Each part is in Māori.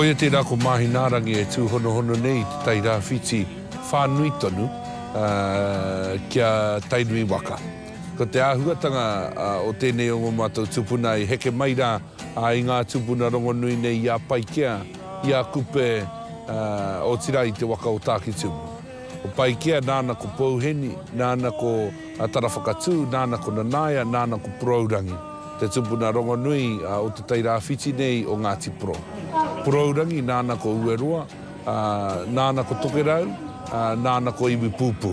Koia tēnā ko Māhinaarangi e tūhonohono nei i te Tai Rāwhiti. whānui tonu kia Tainui waka. Ko te āhuatanga o tēnei o ngō mātou tupuna i heke mai rā i ngā tūpuna rongonui nei i a Paikea, i a Kupe, otirā i te waka o Tākitimu. Ko Paikea nāna ko Pouheni, nāna ko Tarawhakatū, nāna ko Nanaia, nāna ko Porourangi, te tūpuna rongonui o te Tai Rāwhiti nei o Ngāti Porou. Porourangi nāna ko Ueroa, Ā, nāna ko Tokerau, ā, nāna ko Iwipūpū.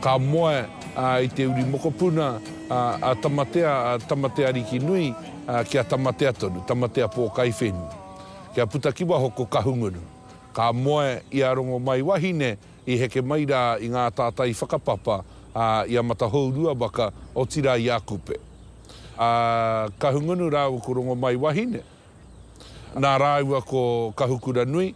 Ka moe, ā, i te uri mokopuna, ā, a Tamatea, a Tamatearikinui, ā, ki a Tamatea tonu, Tamatea Pōkaiwhenu, kia puta ki waho ko Kahungunu. Ka moe i a Rongomaiwahine i heke mai rā i ngā tātai whakapapa, ā, i a Matahourua waka, otirā i a Kupe. A Kahungunu rāua ko Rongomaiwahine, Nā rāua ko Kahukuranui,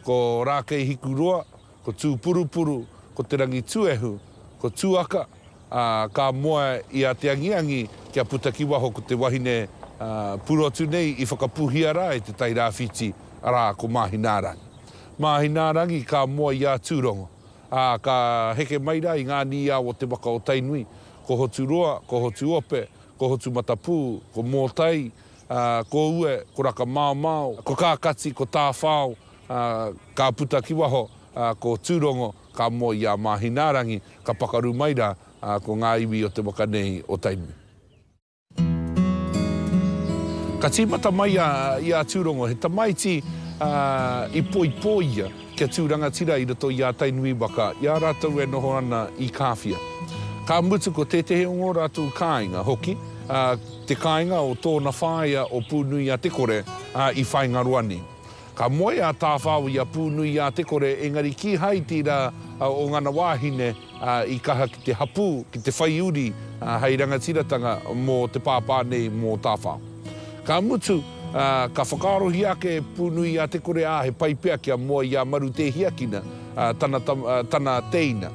ko Rākeihikuroa, ko Tūpurupuru, ko Te Rangituehu, ko Tuaka, ā, ka moe i a Te Angiangi kia puta ki waho ko te wahine purotu nei i whakapuhia rā e Te Tai Rāwhiti, arā, ko Māhinaarangi. Māhinaarangi ka moe i a Tūrongo, ā, ka heke mai rā i ngā nīao o te waka o Tainui, ko Hoturoa, ko Hotuope, ko Hotumatapū, ko Mōtai, ā, ko Ue, ko Rakamaomao, ko Kākati, ko Tāwhao, ā, ka puta ki waho, ā, ko Tūrongo, ka moe i a Māhinaarangi, ka pakaru mai rā, ā, ko ngā iwi o te waka nei o Tainui. Ka tīmata mai a, i a Tūrongo, he tamaiti, ā, i poipō ia kia tū rangatira i roto i a Tainui waka, i a rātou e noho ana i Kāwhia. Ka mutu ko tētehi o ngō rātou kāinga hoki, ā, te kāinga o tōna whāea o Pūnuiatekore, ā, i Whāingaroani. Ka moe a Tāwhao i a Pūnuiatekore, engari kīhai tira o ngana wāhine i kaha ki te hapū, ki te whai uri hei rangatiratanga mō te pāpā nei, mō Tāwhao. Ka mutu, ka whakaarohia ake e Pūnuiatekore, ā, he pai pea kia moe i a Marutēhiakina, tana teina,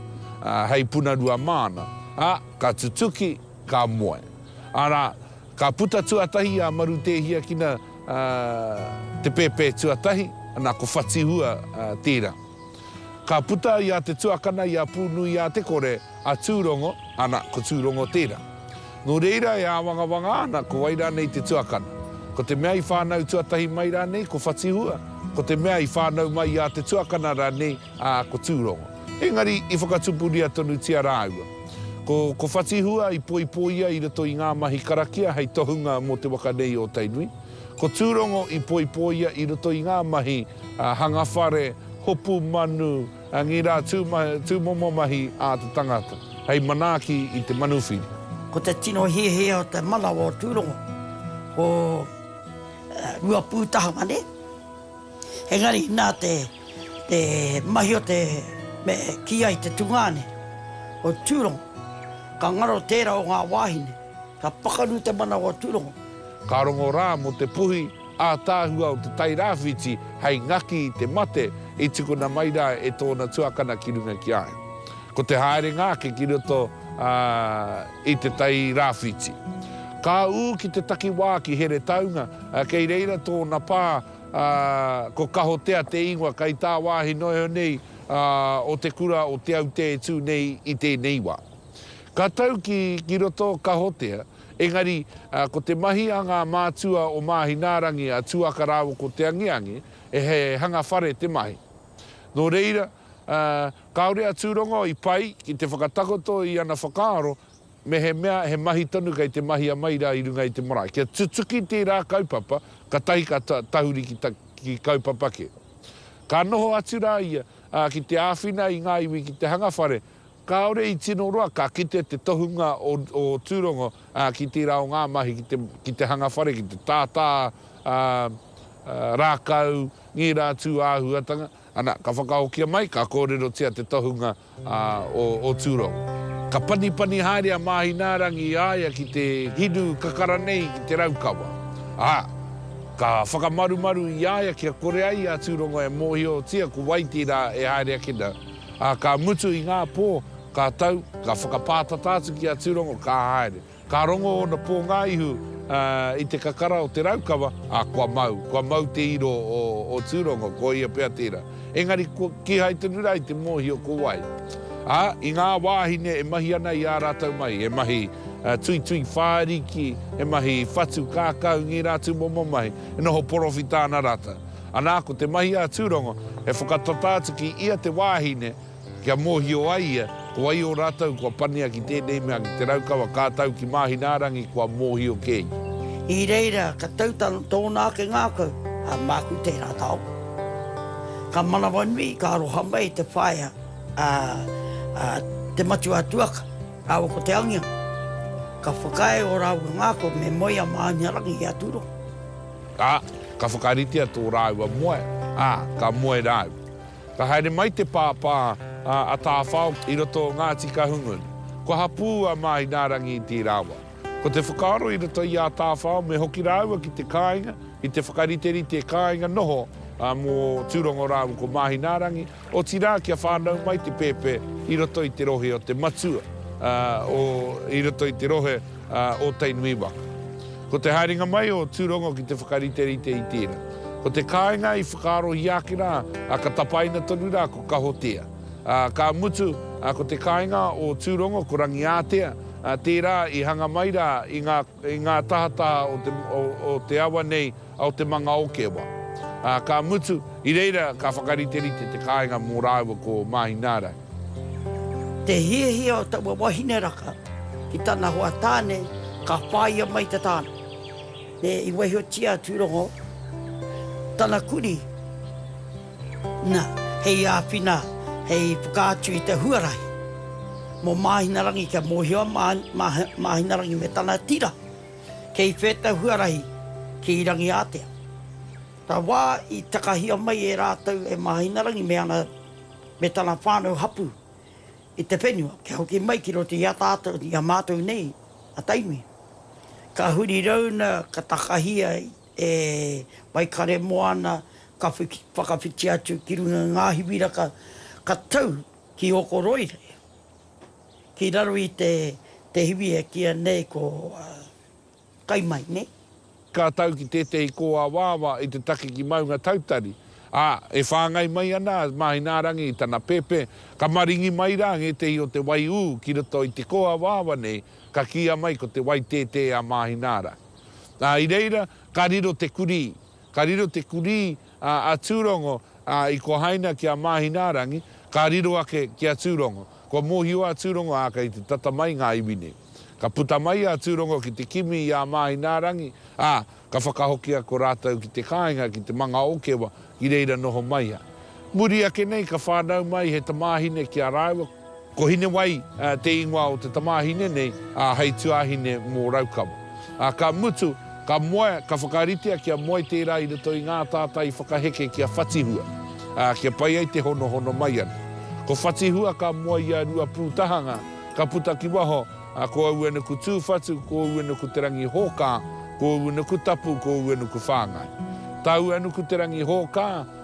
hei punarua māna, ā, ka tutuki, Ka moe. Arā, ka puta tuatahi a Marutēhiakina te pēpē tuatahi, ana, ko Whatihua tērā. Ka puta i a Te Tuakana, i a Pūnuiātekore, a Tūrongo, ana, ko Tūrongo tērā. Nō reira e āwangawanga ana ko wai rānei te tuakana. Ko te mea i whānau tuatahi mai rānei ko Whatihua, ko te mea i whānau mai i a Te Tuakana rānei ā, ko Tūrongo. Engari, i whakatupuria tonutia rāua. Ko, ko Whatihua i poipoia i roto i ngā mahi karakia hei tohunga mō te waka nei o Tainui. Ko Tūrongo i poipoia i roto i ngā mahi hanga whare, hopu manu, ngirā tūmomo mahi ā te tangata, hei manaaki i te manuwhiri. Ko te tino hiahia o te manawa o Tūrongo, ko Ruapūtahanga, nē? Engari, nā te mahi o te me kī ai te tungāne o Tūrongo, ka ngaro tērā o ngā wāhine, ka pakaru te manawa o Tūrongo. Ka rongo rā mō te puhi ātaahua o te Tairāwhiti hei ngaki i te mate i tukuna mai rā e tōna tuakana ki runga ki a ia. Ko te haerenga ake ki roto i te Tairāwhiti. Ka ū ki te takiwā ki Heretaunga, kei reira tōna pā ā, ko Kahotea te ingoa kai tā wāhi noeho nei o te kura o Te Aute e tū nei i tēnei wā. Ka tau ki, ki roto Kahotea, engari ko te mahi a ngā mātua o Māhinaarangi a Tuaka rāua ko Te Angeange, he hanga whare te mahi. Nō reira, kāore a Tūrongo i pai ki te whakatakoto i ana whakaaro, Mehemea he mahi tonu kei te mahia mai rā i runga i te marae, kia tutuki tērā kaupapa, katahi ka tahuri ki kaupapa kē. Ka noho atu rā ia, ā, ki te āwhina i ngā iwi ki te hanga whare, kāore i tino roa ka kite te tohunga o Tūrongo ki tērā o ngā mahi ki te hanga whare, ki te tātā rākau, ngērā atu āhuatanga. Ana, ka whakahokia mai, ka kōrerotia te tohunga a, o, o Tūrongo. Ka panipani haere a Māhinaarangi i a ia ki te hinu kakara nei ki te Raukawa, ā, ka whakamarumaru i a ia kia kore ai a Tūrongo e mōhiotia ko Waitī rā e haere ake nei, ā, ka mutu i ngā pō, ka tau, ka whakapātata atu ki a Tūrongo, ka haere. Ka rongo ōna pō ngā ihu i te kakara o te raukawa, ā, kua mau, kua mau te iro o Tūrongo, ko ia pea tērā. Engari, kīhai tonu rā i te mōhio ko wai. Ā, i ngā wāhine e mahi ana i ā rātou mahi, he mahi tuitui whāriki, he mahi whatu kākau, ngērā atu momo mahi, e noho porowhita ana rātou. Anā, ko te mahi a Tūrongo, he whakatata atu ki ia te wāhine, Kia mōhio ai ia, ko wai ō rātou kua pania ki tēnei mea ki Te Raukawa ka tau ki Māhinaarangi kua mōhio kē ia. I reira ka tau tōna ake ngākau, a māku tērā taonga. Ka manawanui, ka aroha mai te whaea a Te Matua Tuaka rāua ko Te Angiangi. Ka whakaae ō rāua ngākau me moe i a Māhinaarangi i a Tūrongo. Ā, ka whakaritea tō rāua moe, ā, ka moe rāua. Ka haere mai te pāpā a Tāwhao i roto o Ngāti Kahungunu. Kua hapū a Māhinārangi i tērā wā. Ko te whakaaro i roto i a Tāwhao me hoki rāua ki te kāinga, ki te whakariterite kāinga noho mō Tūrongo rāua ko Māhinārangi, otirā kia whānau mai te pēpē i roto i te rohe o te matua, i roto i te rohe a Ōtainui waka. Ko te haerenga mai o Tūrongo ki te whakariterite i tērā. Ko te kāinga i whakaarohia ake rā, ā, ka tapaina tonu rā ko Kahotea. Ā, ka mutu, ā, ko te kāinga o Tūrongo ko Rangiātea, ā, tērā i hanga mai rā i ngā, i ngā tahataha o te, o, o te awa nei, o te manga o Kewa. Ā, ka mutu, i reira ka whakariterite te kāinga mō rāua ko Māhināra. Te hiahia o taua wahine raka ki tana hoa tāne, ka whāia mai te tāne. Nē, i waihotia a Tūrongo tana kurī, nā, hei āwhina, hei whakaatu i te huarahi mō Māhinarangi kia mōhio a Māhinarangi me tana tira Kei whēta huarahi ki Rangiātea. Ka wā i takahia mai e rātou e Māhinarangi me ana, me tana whānau hapū i te whenua kia hoki mai ki roto i a tātou, i a mātou nei a Tainui. Ka huri rauna ka takahia e Waikaremoana ka whakawhiti atu ki runga i ngā hiwiraka ka tau ki Okoroire. Ki raro i te te hiwi e kīia nei ko kai mai, nē. Ka tau ki tētehi kōawaawa i te take ki Maungatautari, ā, e whāngai mai ana a Māhinaarangi i tana pēpē, ka maringi mai rā ngētehi o te waiū ki roto i te kōawaawa nei, ka kīia mai ko te waitētē a Māhinaara. Ā, i reira ka riro te kurī, ka riro te kurī a Tūrongo, ā, i kohaina ki a Māhinārangi, ka riro ake ki a Tūrongo. Kua mōhio a Tūrongo, ā, kei te tata mai ngā iwi nei. Ka puta mai a Tūrongo ki te kimi i a Māhinārangi, ā, ka whakahokia ko rātou ki te kāinga ki te manga o Kewa, ki reira noho mai a. Muri ake nei ka whānau mai he tamāhine ki a rāua, Ko Hinewai te ingoa o te tamāhine nei, ā, hei tuāhine mō Raukawa. Ā, ka mutu, ka moe, ka whakaritea kia moe tērā i roto i ngā tātai whakaheke ki a Whatihua, ā, kia pai ai te honohono mai ana. Ko Whatihua ka moe i a Ruapūtahanga, ka puta ki waho, ā, ko aua nuku tūwhatu, ko aua nuku te rangi hōkā, ko aua nuku tapu, ko aua nuku whāngai. Tāua nuku te rangi hōkā,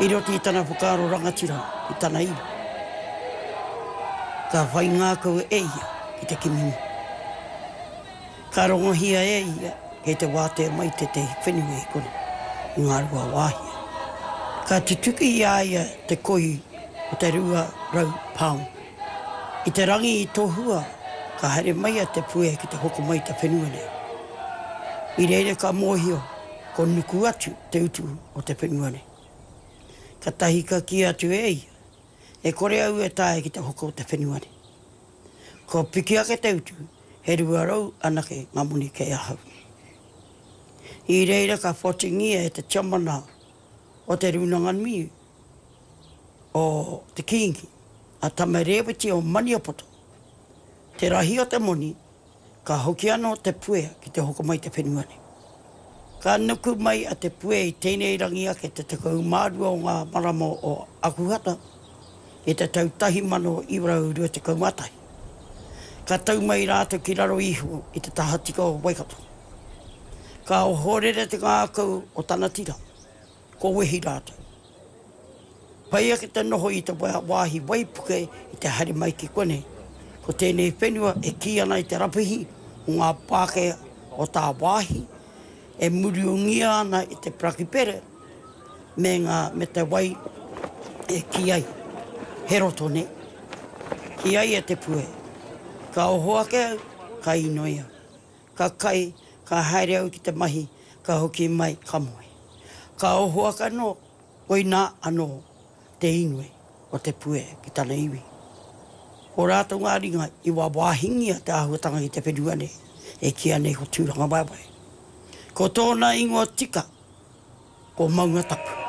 I roto i tana whakaaro rangatira ki tana iwi, ka whai ngākau e ia ki te kimi iwi. Ka rongohia e ia kei te wātea mai tētehi whenua i konei, i Ngāruawāhia. Ka tutuki i a ia te koi o te rua rau pāmu. I te rangi i tohua, ka haere mai a Te Puea ki te hoko mai i te whenua nei. I reira ka mōhio ko Nuku atu te utu o te whenua nei. Katahi ka kī atu e ia, E kore au e taea ki te hoko o te whenua nei. Kua piki ake te utu, he rua rau anake ngā moni kei ahau. I reira ka whatingia e te tiamana o te rūnanga nui, o te Kīngi, a Tama Rēweti o Maniapoto, te rahi o te moni, ka hoki anō te puea ki te hoko mai i te whenua nei. Ka nuku mai a Te Puea i tēnei rangi ake te 12 o ngā marama o Akuhata i te tau 1921. Ka tau mai rātou ki raro iho i te tahatika o Waikato. Ka ohorere te ngākau o tana tira. Kua wehi rātou. Pai ake te noho i te wāhi waipuke i te haere mai ki konei. Ko tēnei whenua e kī ana i te rapihi o ngā Pākehā o tāwāhi e muriungia ana i te prakipere me ngā me te wai e kī ai he roto nei. Kī ai e Te Puea, ka oho ake au, ka inoi au. Ka kai, ka haere au ki te mahi, ka hoki mai, ka moe. Ka oho ake anō, koinā anō te inoi o te puea ki tana iwi. Ko rātou ngā ringa i wāwāhingia te āhuatanga ki te whenua nei, e kīia nei ko Tūrangawaewae. Ko tōna ingoa tika, Ko Maunga Tapu.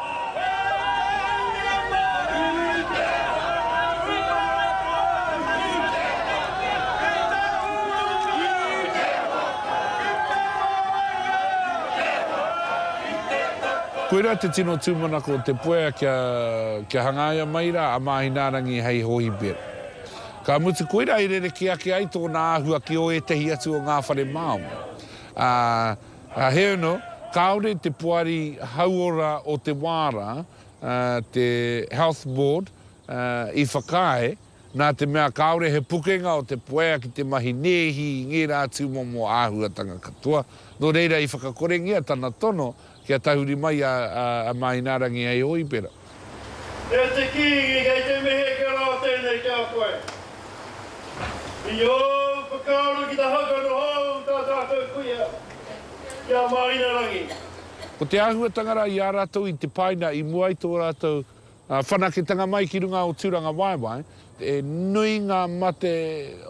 Koirā te tino tūmanako o Te Puea kia kia hangaia mai rā a Māhinaarangi hei hohipera. Ka mutu koirā i rerekē ake ai tōna āhua ki ō ētehi atu o ngā whare Māori, ā, Ka heuno, kāore te poari hauora o te wā rā, te Health Board, i whakaae, nā te mea kāore he pukenga o te poea ki te mahi nēhi i ngērā tūmomo āhuatanga katoa, nō reira i whakakorengia tana tono kia tahuri mai a Māinārangi hei hōipera. E te Kīngi, kei te mihi kia rā tēnei ki a koe. I ōu whakaaro ki te haka noho au i tā tātou kuia, ki a Māinarangi. Ko te āhuatanga rā i a rātou i te paina i mua i tō rātou whanaketanga mai ki runga o Tūrangawaewae, he nui ngā mate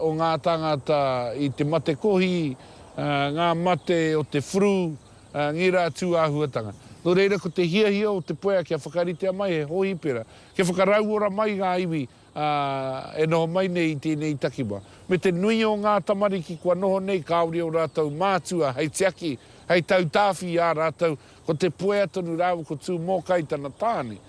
o ngā tāngata i te mate kohi, ngā mate o te furu, Ngi rā tū āhuatanga. Nō reira ko te hiahia o Te Puea kia whakaritea mai he hōhipera, kia whakarauora mai ngā iwi e noho mai nei i tēnei takiwa. Me te nui o ngā tamariki kua noho nei kāore ō rātou mātua hei tiaki, hei tautāwhi i a rātou, ko Te Puea tonu rāua ko Tūmōkai tana tāne.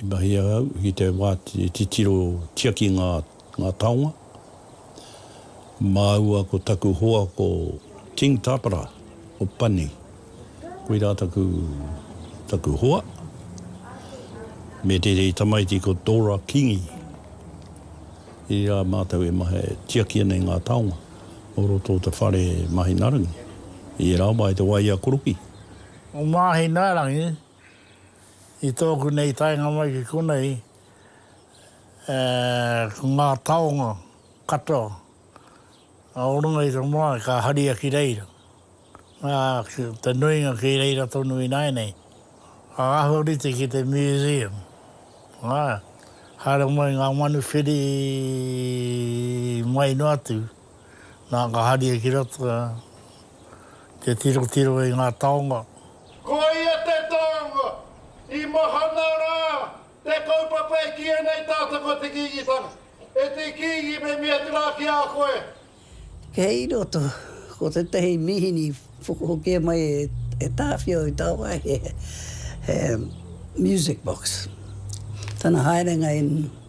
I mahia au ki te wā e titiro tiaki ngā taonga. Māua ko taku hoa ko King Tapera o Pani. Koirā taku hoa, me tētehi tamaiti ko Dora Kingi. Irā mātou e mahia e tiaki ana i ngā taonga o roto o te whare Mahinarangi, i ērā wā i te wā i a Koroki. O Mahinarangi I tōku nei taenga mai ki konei, ko ngā taonga katoa o runga i te marae ka haria ki reira, ā, te nuinga ki reira tonu ināianei. Ka āhua rite ki te museum, ā, haere mai ngā manu whiri mai noa atu. Nā ka haria ki roto te tirotiro i ngā taonga. Koia te taonga i mahana rā te kaupapa e kīia nei tātou ko Te Kīngitanga. E Te Kīngi me mea atu rā ki a koe. Kei roto, ko tētahi mīhini whakahokia mai e Tāwhiao i tāwāhi he music box. Tana haerenga in.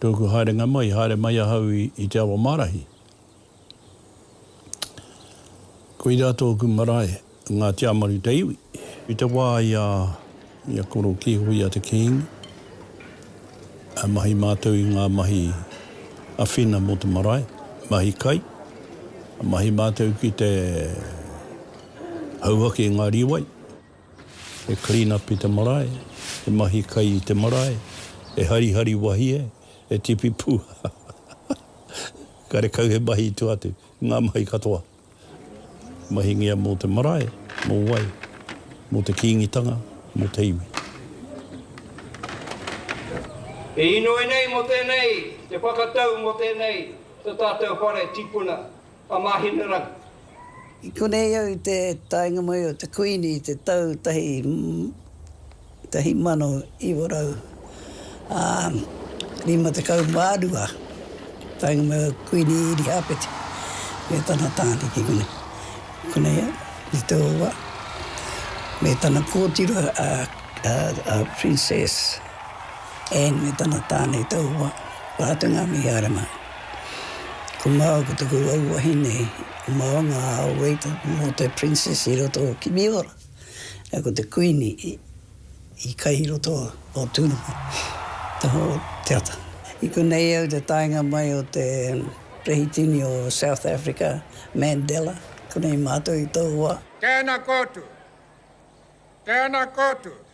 Tōku haerenga mai, i haere mai ahau i te awa mārahi. Koirā tōku marae, ngā Tiamaru te iwi. I te wā i a koro kīhoi i a te Kīngi, a mahi mātou i ngā mahi awhina mō te marae, mahi kai, a mahi mātou ki te hauhake i ngā rīwai. E clean up i te marae, e mahi kai i te marae, e harihari wahie, e tipi pū karekau he mahi i tua atu, ngā mahi katoa. Mahingia mō te marae, mō wai, mō te Kīngitanga, mō te iwi. E inoi nei mō tēnei te whakatau mō tēnei to tātou whare tipuna a Mahinerangi. I konei au i te taenga mai o te Kuini i te tau 1952. Taenga mai o Kuini Irihāpeti me tana tāne ki konei. Konei au i te owa me tana kōtiro a Princess Anne me tana tāne i te owa, rātou ngā mihi āra mā. Ko māua ko taku rau wahine, ko māua ngā āwei taku mō te princess i roto o Kimiora, ā, ko te kuini i kai i roto o Tūranga, taha o te ata. I konei au te taenga mai o te Rehitini o South Africa, Mandela, konei mātou i tōu wā. Tēnā koutou. Tēnā koutou.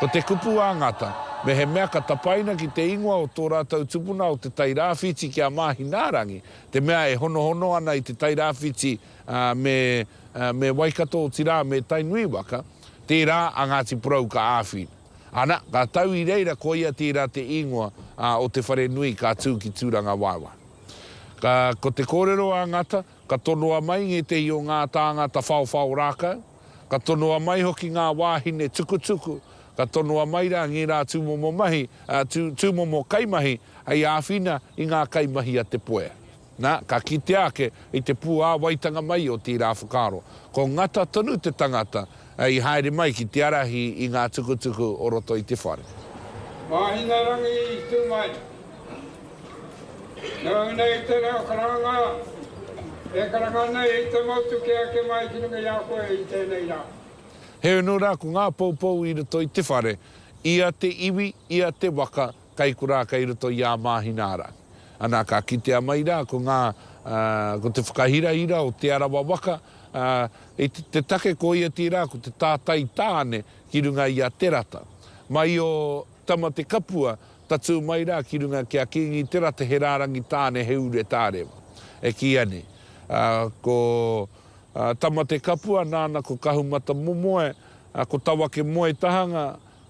Ko te kupu a Ngata, mehemea ka tapaina ki te ingoa o tō rātou tupuna o Te Tai Rāwhiti ki a Māhinaarangi, te mea e honohono ana i Te Tai Rāwhiti me me Waikato, otirā, me Tainui waka, tērā a Ngāti Porou ka āwhina. Ana, ka tau i reira koia tērā te ingoa o te whare nui ka tū ki Tūrangawaewae. Ka, ko te kōrero a Ngata, ka tonoa mai ngētehi o ngā tāngata whaowhao rākau, Ka tonoa mai hoki ngā wāhine tukutuku, ka tonoa mai rā ngērā tūmomo mahi, tūmomo kaimahi hei āwhina i ngā kaimahi a Te Puea. Na, ka kitea ake i te puāwaitanga mai o tērā whakaaro, ko Ngata tonu te tangata i haere mai ki te ārahi i ngā tukutuku o roto i te whare. Mahingarangi i tū mai. Nau nei te reo karanga e karanga nei i te motu ki eke mai ki runga i a koe i tēnei rā. Heoi anō rā, ko ngā poupou i roto i te whare, ia te iwi, ia te waka, kei korā kei roto i ā Māhinārangi. Anā, ka kitea mai rā ko ngā, ko te whakahirahira o Te Arawa waka, i te take ko ia tērā ko te tātai tāne ki runga i a Te Rata. Mai o Tamatekapua Tatū mai rā ki runga ki a Kīngi Te Rata he rārangi tāne he ure tārewa. E kīia nei, ko Tamatekapua nāna ko Kahumatamomoe, ko Tawakemoetahanga,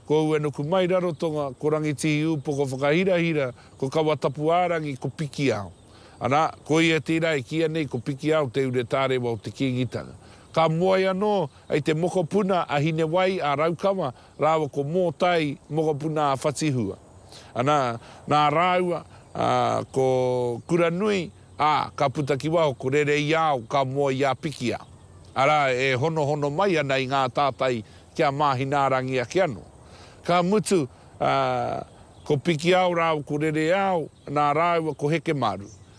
ko Uenukumairarotonga, ko Rangitihiūpoko Whakahirahira, ko Kawatapuārangi, ko Pikiao. Arā, ko ia tērā e kīia nei ko Pikiao te ure tārewa o te Kīngitanga. Ka moe anō, hei te mokopuna a Hinewai, a Raukawa, rāua ko Mōtai mokopuna a Whatihua. Anā, nā rāua, ā, ko Kuranui, ā, ka puta ki waho ko Rereiao ka moe i a Pikia, arā, e honohono mai ana i ngā tātai ki a Māhinaarangi ake anō. Ka mutu, ā, ko Pikiao rāua ko Rereiao, nā rāua ko Hekemaru,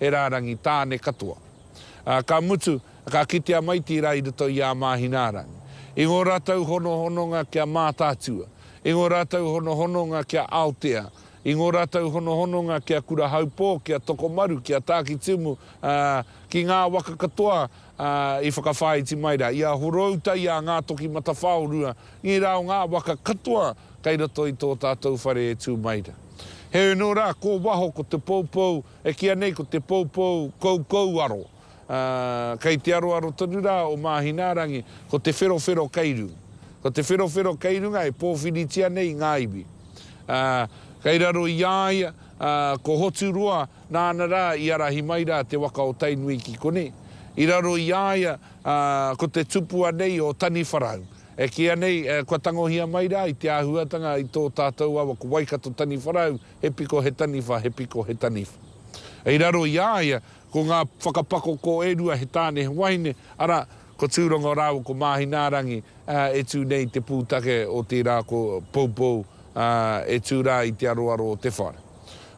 He rārangi tāne katoa. Ā, ka mutu, ka kite a Maitiira i roto i ā Māhinārangi. I ngō rātou honohononga ki a Mātaatua, i ngō rātou honohononga ki a Aotea, i ngō rātou honohononga ki a Kurahaupō, ki a Tokomaru, ki a Tākitimu, ā, ki ngā waka katoa, ā, i whakawhāiti mai rā, i a Horouta, i a Ngātokimatawhaorua, i rā o ngā waka katoa kei roto i tō tātou whare e tū mai rā. Heoi anō rā, ko waho, ko Te Poupou, E kīia nei ko te poupou koukouaro, ā, kei te aroaro tonu rā o Māhinaarangi, ko te wherowhero kei runga. Ko te wherowhero kei runga e pōwhiritia nei i ngā iwi. Ā, kei raro i a ia, ā, ko Hoturoa nāna rā i ārahi mai rā te waka o Tainui ki konei. I raro i a ia, ā, ko te tupua nei o Taniwharau. E kīia nei, kua tangohia mai rā i te āhuatanga i tō tātou awa ko Waikato-Taniwharau, he piko, he taniwha, he piko, he taniwha. Kei raro i a ia, ko ngā whakapakoko e rua, he tāne, he wahine, arā, ko Tūrongo rāua ko Māhinaarangi, ā, e tū nei i te pūtake o tērā ko Poupou, ā, e tū rā i te aroaro o te whare.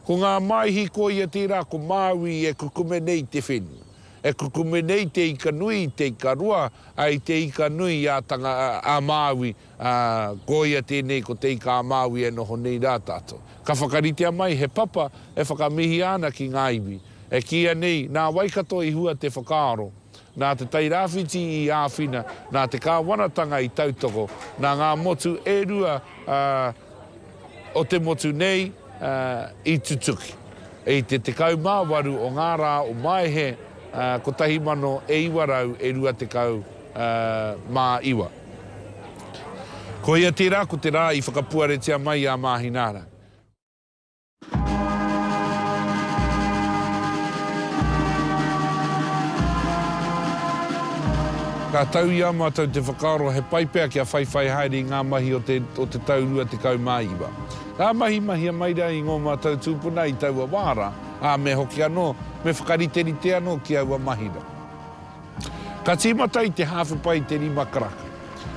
Ko ngā māihi ko ia tērā ko Māui e kukume nei i te whenua, e kukume nei i te ika nui, i te ika roa, ā, i te ika nui ā Tanga, ā Māui, ā, ko ia tēnei ko Te Ika-a-Māui e noho nei rā tātou. Ka whakaritea mai he papa e whakamihia ana ki ngā iwi, e kīia nei nā Waikato i hua te whakaaro, nā Te Tai Rāwhiti i āwhina, nā te Kāwanatanga i tautoko, nā ngā motu e rua o te motu nei i tutuki. I te 18 o ngā rā o Maehe 1929, Koia tērā ko te rā i whakapuaretia mai i a Māhināra. Ka tau i a mātou te whakaaro he pai pea kia whaiwhai haere i ngā mahi o te o te tau 29. Ka mahi mahia mai rā i ngō mātou tūpuna i taua wā rā, ā, me hoki anō, me whakariterite anō ki aua mahi rā. Ka tīmata i te hāwhe pai te rima karaka.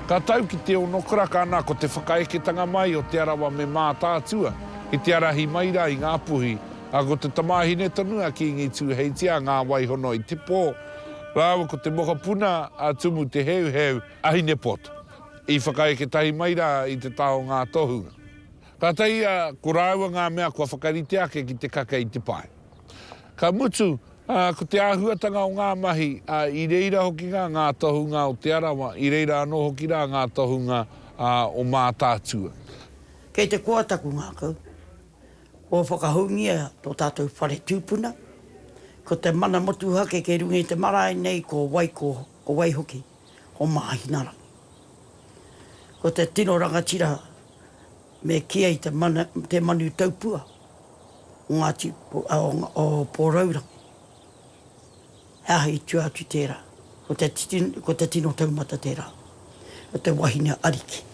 Ka tau ki te ono karaka ana ko te whakaeketanga mai o Te Arawa me Mātaatua ki te arahi mai rā i Ngā Puhi, ā, ko te tamāhine tonu a Kīngi Tūheitia a Ngāwaihono i te pō, rāua ko te mokopuna a Tumu Te Heuheu, a Hinepoto, i whakaeke tahi mai rā i te taha o ngā tohunga. Kātahi ia, ko rāua ngā mea kua whakarite ake ki te kake i te pae. Ka mutu, ko te āhuatanga o ngā mahi, i reira hoki rā ngā tohunga o Te Arawa, i reira anō hoki rā ngā tohunga o Mātaatua. Kei te koa taku ngākau, kua whakahoungia tō tātou whare tūpuna, ko te mana motuhake kei runga i te marae nei ko wai, ko wai hoki, ko Māhinarangi. Ko te tino rangatira Me kī ai te mana, te manu taupua o Ngāti, o Pōrourangi, he aha i tua atu tērā? Ko te titi, ko te tino taumata tērā, ko te wahine ariki.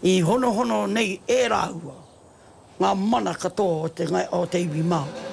I honohono nei e rāua ngā mana katoa o te, o te iwi Māori.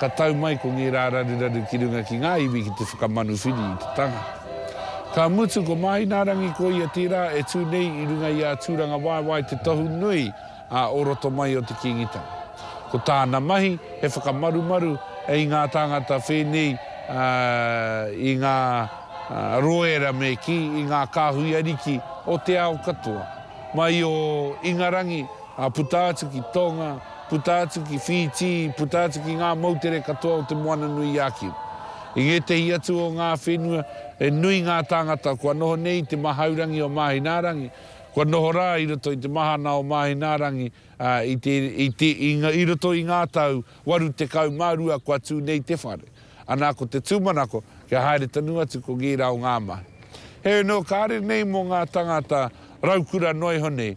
Ka tau mai ko ngērā raruraru ki runga ki ngā iwi ki te whakamanuwhiri i te tangata. Ka mutu ko Māhinaarangi ko ia tērā e tū nei i runga i a Tūrangawaewae te tohu nui a o roto mai o te Kīngitanga. Ko tāna mahi he whakamarumaru i ngā tāngata whēnei i ngā roera me kī i ngā kāhui ariki o te ao katoa mai o Ingarangi puta atu ki Tonga, puta atu ki Whītī, puta atu ki ngā moutere katoa o Te Moananui-a-Kiwa. I ngētehi atu o ngā whenua, he nui ngā tāngata kua noho nei i te mahaurangi o Māhinaarangi, kua noho rā i roto i te mahana o Māhinaarangi i roto i ngā tau 82 kua tū nei te whare, ana ko te tūmanako kia haere tonu atu ko ngērā o ngā mahi. Heoi anō, kāre nei mō ngā tāngata raukura noa iho nei,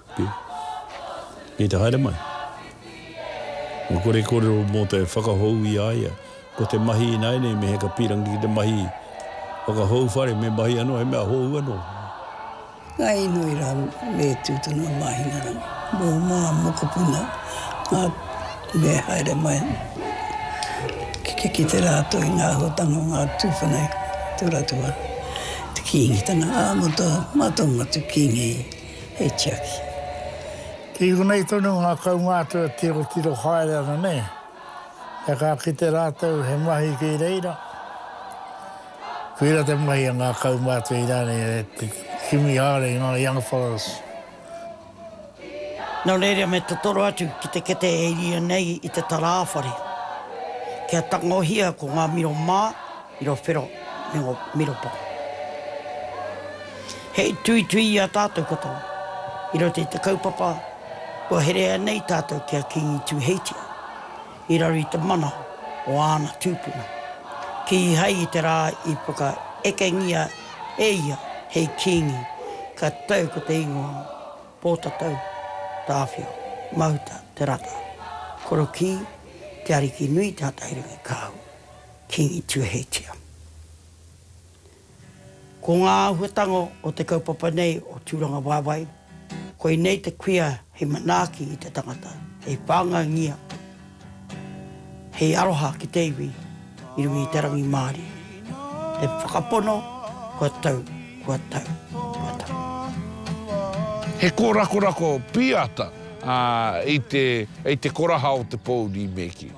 Kei te haere mai. Kua kore kōrero mō te whakahou i a ia. Ko te mahi ināianei me heka pīrangi ki te mahi whakahou whare, me mahi anō, he mea hou anō. Ngā inoi rā me tū tonu a Māhingarangi mō ngā mokopuna, ngā me haere mai ki te rātou i ngā āhuatanga o ngā tūpuna i tō rātou wā. Te Kīngitanga ā-motu, mātou ngā tū Kīngi. He tiaki. Kei konei tonu ngā kaumātua tirotiro haere ana nei, kia ka kite rātou he mahi kei reira. Koira te mahi a ngā kaumātua i rānei e te kimi haere i ngā young fellows. Nō reira me totoro atu ki te kete e rīa nei i te tarāwhare. Kia tangohia ko ngā miro mā. I ro whero me ngo miropa. Hei tuitui i a tatou katoa, i roto i te kaupapa kua herea nei tatou ki a Kingi Tuheitia, i raro i te mana o ana tupuna, kihai i te ra i whakaekengia e ia hei kingi, ka tau ko te ingoa Potatau Tawhio Mahuta Te Rata, korokī, Te Ariki Nui Te Hatahirangi Kahu, Kīngi Tuheitia. Ko ngā āhuatanga o te kaupapa nei o Tūrangawaewae, koinei te kuia hei manaaki i te tangata, hei whāngaingia, hei aroha ki te iwi i runga i te rangimārie. Te whakapono, kua tau, kua tau, kua tau. He kōrakorako pīata i te koraha o te pōuri me kī.